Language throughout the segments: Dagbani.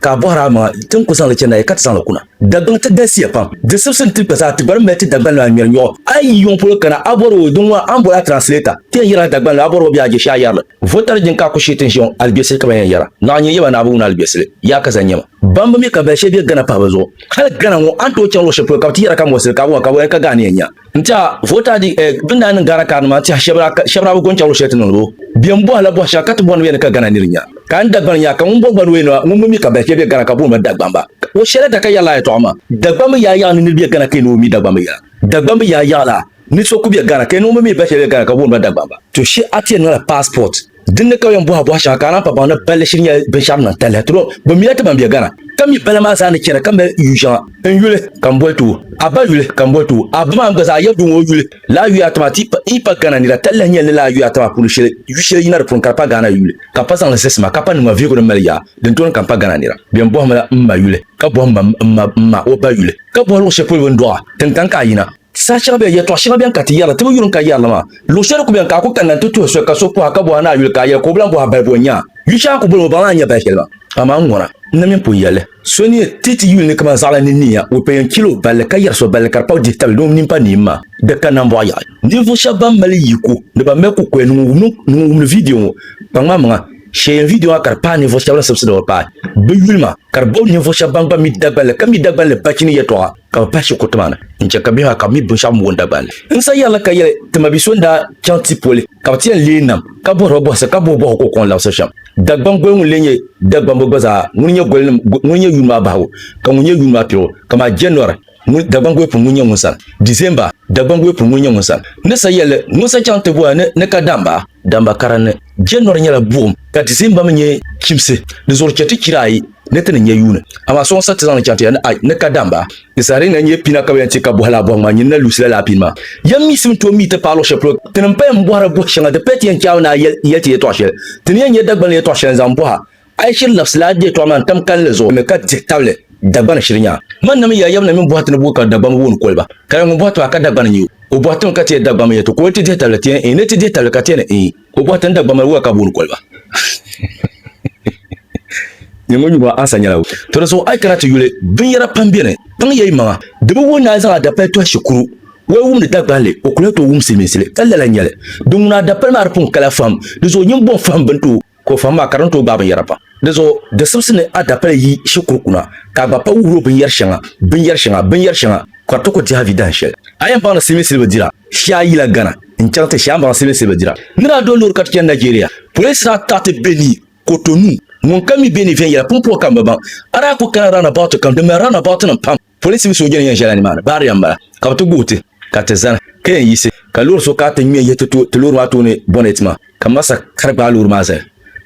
Ka a bɔhir a maŋa, ti ni ku zaŋ li chɛ nayi ka ti zaŋ li kuna. Dagbaŋ ti galisiya pam. Di sibisi ni ti kpa zaa, ti gba di mali ti Dagbanli maa ŋmɛri nyuɣu. A yi yi yuŋ polo kana, a bɔri o, Dinŋɔ, a ni boli a translator, ti yɛn yɛri a Dagbanli, a bɔri o bɛ a jɛshɛhi yɛri li. Votari jin ka a ku shee ti ni ʒiɛ ŋɔ, aligbesili ka ba yɛn yɛra. Naɣa nyini yɛba ni a bi wum ni aligbesili, yaa ka zani nyɛ ma. Ban bi mi ka bali shɛli bɛ Ghana pahibu zuɣu. Hali Ghana ŋɔ, a ni tooi chaŋ luɣ shɛli polo ka bɛ ti yɛra ka mɔɣisili ka a bi ŋɔ ka boli ni ka ga a ni yɛn nya. n tiɛha vota di eh, bin daa niŋ Ghana karinima tiɛha shɛba daa bi gɔn chɛbiri shɛli ti niŋdi o bɛ m bɔhila bɔhi shɛŋa ka ti bɔhi ni o yɛn ni ka Ghana niri nya ka n Dagbani yaa ka ŋun bɔhi gba ni o yɛn ŋun mi mi ka balifiya bɛ Ghana ka booni ba Dagbamba o shɛla da ka yɛrila a yɛtɔɣa maa Dagbambi yaa yaɣa ni niri bɛ Ghana ka yɛn ni o mi Dagbambi yaa Dagbambi yaa yaɣala ni so ku bɛ Ghana ka yɛn ni o mi mi balifiya bɛ Ghana ka booni ba Dagbamba to shi a ti yɛn niŋla passport Din ni ka o yɛn bɔhi a bɔhi shɛŋa ka a naan pa baŋ ni balli shiri nyɛla binshɛɣu din lahi tali ti lo bɛ mila ti ban be Ghana ka mi bala maa zaa ni chɛna ka mali yu shɛŋa. N yuli ka m boli ti wuh a ba yuli ka m boli ti wuh a ba maa n-gba zaa yɛri di ŋɔ yuli laa yuya ata maa ti yi pa Ghana nira tali lahi nyɛli ni laa yuya ata maa puuni shɛli yu shɛli yina di puuni ka di pa Ghana yuli ka m pa zaŋ li zisi ma ka pa niŋma vihigu din mali yaa din tooni ka m pa Ghana nira bɛn bɔhimila m ma yuli ka bɔhimma m ma o ba yuli ka bɔhi luɣ shɛli polo bɛ ni dɔɣi a tiŋ tan ka a yina Saha shɛŋa bɛn, yɛtɔɣ shɛŋa bɛn ka ti yɛrila, ti bi yuri n-ka yɛrili maa. Luɣ shɛli ku bɛn ka a ku kanna nti tuhi so ka so pɔhi ka bɔhi a ni a yuli ka a yɛli ka o bi lan bɔhi a balibu o nya a. Yu shɛŋa ku boli mi o baŋ ni a ni nya bali shɛli maa. Amaa n ŋɔna, n na min pun yɛli li. So ni yɛn ti ti yuli ni kaman zaɣila ni niya, o pɛ yɛn chil o balli ka yɛri so balli ka di kpabi dihi tabili ni o mini pa niim maa. Di kanna m bɔɣu yaɣi. Ninvuɣ shɛba ban mali yiko ni ban mali kukoya ni ŋun wumdi o ni ŋun wumdi viidiyo ŋɔ kpaŋmaŋmaŋa shee yɛn viidiyo maa ka di paai ninvuɣ shɛba ni sibisiri ba paai bɛ yuli maa ka di bɔbi ninvuɣ shɛba ban gba mi Dagbanli ka mi Dagbanli bachini yɛtɔɣa. ka bɛ pahi shikuruti maa ni n-chɛ ka bihi maa ka bɛ mi binshɛɣu m-bo n Dagbani li. N sa yɛlli ka yɛli ti ma bi so n-daa chaŋ ti poli ka bɛ ti yɛn leei nam ka bɔhiri ba bɔhisi ka bɔhi bɔhigu ka o kɔŋ labisi shɛm. Dagbani goli ŋun lee nyɛ Dagbambo gba zaa ŋuni nyɛ golinim ŋuni nyɛ yuuni maa bahigu ka ŋuni nyɛ yuuni maa piligu kaman January ŋuni Dagbani goli pun ŋuni nyɛ ŋun sani December Dagbani goli pun ŋuni nyɛ ŋun sani ni sa yɛlli ŋun sa chaŋ ti bɔhi ni ni ka daamba Damba kara ni. January nyɛla buɣim ka December mi nyɛ chimsi. Di zuɣu chɛ ti chira ayi ni ti ni nya yuuni. Amaa sɔŋ sa ti zaŋ li chaŋ ti ya ni a ni ka Damba. Di saha di ni na nyɛ pina ka bɛ yɛn ti ka bɔhi laa bɔhim maa, nyini na Lucila laa pini maa. Yɛm mi sim tooi mi ti paai luɣ shɛli polo ti ni paya m-bɔhiri bɔh shɛŋa. Di paya ti yɛn chaai mi ni a yɛli ti yɛtɔɣ shɛli. Ti ni yɛn nya Dagbani ni yɛtɔɣ shɛli n-zaŋ bɔh a. A yi shiri labisili a yɛtɔɣa maa n-tam kalinli zuɣu mi ka dihi tabili Dagbani shiri nyaa. Mani nami ya yabina mini bɔhiti ni buɣi ka Dagbani wuhi ni koli ba. Ka ya ŋun bɔhiti maa ka Dagbani nya o, o bɔhiti mi ka ti yɛli Dagbani mi yɛtɔ ka o ni ti dihi tabili ti yɛli Iin ni ti dihi tabili ka ti yɛli Iin. O bɔhiti ni Dagbani mali wuhi a ka buɣi ni koli ba. Nyɛ ŋun yuŋɔ ansa nyɛla o. To di zuɣu a yi kana ti yuli, binyɛra pam beni. Kpaŋ ya yi maŋa. Di bi wuhi ni a ni zaŋ a dapali tɔhi shikuru. Wali wumdi Dagbani li, o kuli ni tooi wum Silimiinsi li. Ka lala nyɛli. Di ŋuna a dapali maa di pun kala fahim. Di zuɣu nyin bɔŋ fahim bini ti o. Ka o fahim a ka di ni tooi gbaai binyɛra pam. Dinzuɣu di simsi ni a dapali yi shikuru kuna ka a gba pa wuhir o binyɛr shɛŋa, binyɛr shɛŋa, binyɛr shɛŋa ka di ti ku dihiavi dahin shɛli. A yɛn baŋdi silimin siliba dira shee a yila Ghana n-chaŋ ti shee a ni baŋdi silimin siliba dira. N ni daa do loori ka ti chani Nigeria, polinsi daa taai ti Benue, Cotonou. Ŋun ka mi Benue viɛnyɛla pumpɔŋɔ ka m bi baŋ. A daa ku kana round about kam, di mali round about nim pam. Polisi ni sooja ni yɛn ʒɛla nimaani baariya m-bala ka bɛ ti guhi ti ka ti zani ka yɛn yiɣisi ka loori so ka ti ŋme yihi ti loori maa tooni bonnet maa ka m ma sa ka di gbaai loori maa zali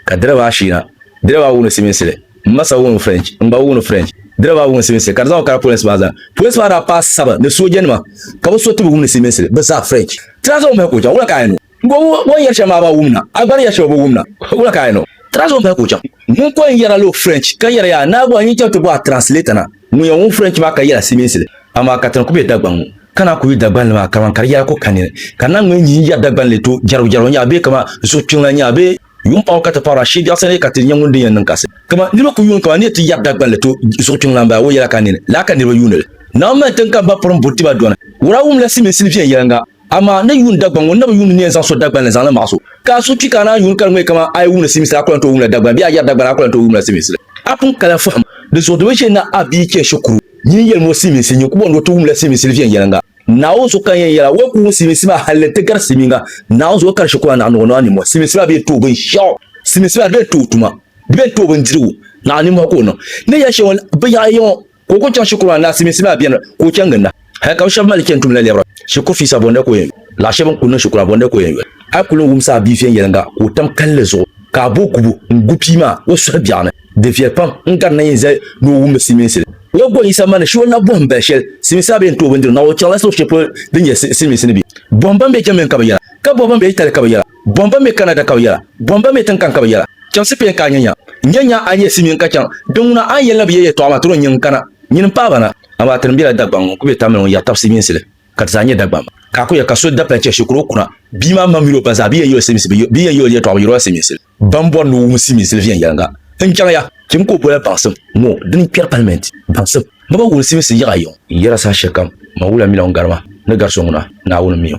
ka direba ashiina direba awunu Siminsi li m ma sa wunu French n gba wunu French direba awunu Siminsi li ka di zaŋ o kana polinsi maa zani polinsi maa daa paai saba ni soojanima ka bɛ so ti bi wumdi Siminsi li bɛ zaa French ti daa zaŋ o mahi ka o chaŋ wula ka a yɛn niŋ o. Ŋun o ni yɛri shɛm maa ba wum na, a gba ni yɛri shɛm o bi wum na. Wula ka a yɛn o? Trans ŋun paya ka o chaŋ. Ŋun pɔi n-yɛra lo French ka yɛra yaa Naagu a yi chaŋ ti bɔ a translator na ŋun yɛn wum French maa ka yɛla Silimiinsi li. Amaa ka ti ni ku be Dagbaŋ ŋɔ ka naa ku yi Dagbaŋ li maa kaman ka di yɛla ko ka nini ka naa ŋmee nyihi n-yɛri Dagbaŋ li tooi jɛrigu jɛrigu n-nya bee kaman zuɣu kpiŋla n-nya bee yuŋ paɣibu ka ti paɣiri ashee biɛɣu sani ka ti nya ŋun din yɛn niŋ kasi. Kaman niriba ku yuuni kaman ni ti yɛri Dagbaŋ li tooi zuɣu kpiŋla m-bala o yɛla ka nini laa ka niriba yuuni li. Naawuni mali tiŋ ka m ba pɔri m-buri ti ba dɔni. Wura wumla Silimiinsi ni viɛnyɛliŋga? Amaa n ni yuun Dagbaŋ ŋun na bi yuun ni yɛn zaŋ so Dagbaŋ ni zaŋli maɣis o. Ka a suhu kpi ka a naan yuun kari ŋmee kaman a yi wumdi simiisili a ku lan tooi wumla Dagbaŋ bee a yɛri Dagbaŋ a ku lan tooi wumla simiisili. A pun kala fahim di zuɣu dama shee na a bia chɛ shikuru nyin yɛlim o simiinsi nyin ku bɔŋdi o ti wumla simiisili viɛnyɛliŋga. Naawuni so kan yɛn yɛl a o ku wum simiinsi maa hal ni n ti gari simiinga. Naawuni so kari shikuru anahi ni o niŋ a ninmɔhi. Simiinsi maa bee n-ti o binshɛɣu. Simiinsi maa di bee n-ti o tuma. Di bee n-ti o bindirigu. Naawuni ninmɔhi ka o niŋ. Ni yɛli shɛŋa binyɛhiri yiŋɔ. Ka o kuli chaŋ shikuru maa ni Asiiminsi maa beni ka o chaŋ ginda hal ka bɛ shɛba mali chani tumla lɛbira shikuru fiisa bɔnda ka o yɛn yuli. Lala shɛba n-kuli niŋ shikuru maa bɔnda ka o yɛn yuli. A kuli ni wumsi a bia viɛnyɛliŋga ka o tam kalinli zuɣu ka a bo gubu n-gu pia maa o suhu biɛɣu ni. Di viɛli pam n gari nayin zali ni o wummi Silimiinsi li. O daa bɔri Yisa ma ni shi o na bɔhim bali shɛli Silimiinsi maa bɛ yɛn ti o bindirigu na o chaŋla luɣ shɛli polo din nyɛ Silimiinsi ni bɛ bɔhim ban be jɛmmiŋ ka bɛ yɛra ka bɔhi ban be Itali ka bɛ yɛra. Bɔŋ ba mi Canada ka bɛ yɛla, bɔŋ ba mi tinkan ka bɛ yɛla, Chɛmsi peen ka a nya nya, N-nya nya a ni yɛ Simeon ka chaŋ, din ŋuna a ni yɛli na bi yɛ yɛtɔɣa maa tiri o nyin n-kana. Nyin m-paai ba na, amaa ti ni bela Dagbaŋ ŋun ku be Tamil ŋɔ ya tabisi minsili, ka ti zaa nyɛ Dagbaŋ ba. Ka a ku yɛli ka so dapali chɛ shikuru o kuna, bia maa ma mini o ba zaa bi yɛn yoli Siminsi, bi yɛn yoli yɛtɔɣa bi yiriba Siminsili. Ban bɔri ni o wum Siminsili viɛnyɛliŋga n-chaŋ ya, chim ka o bola baŋsim ŋɔ di ni kpɛri palimɛnti baŋsim. Ni bɛ wul simsi yiɣa yiŋ. N yɛra saha shɛlikam, man wula mila ŋun gari ma, ni gari so ŋuna, Naawuni mi o.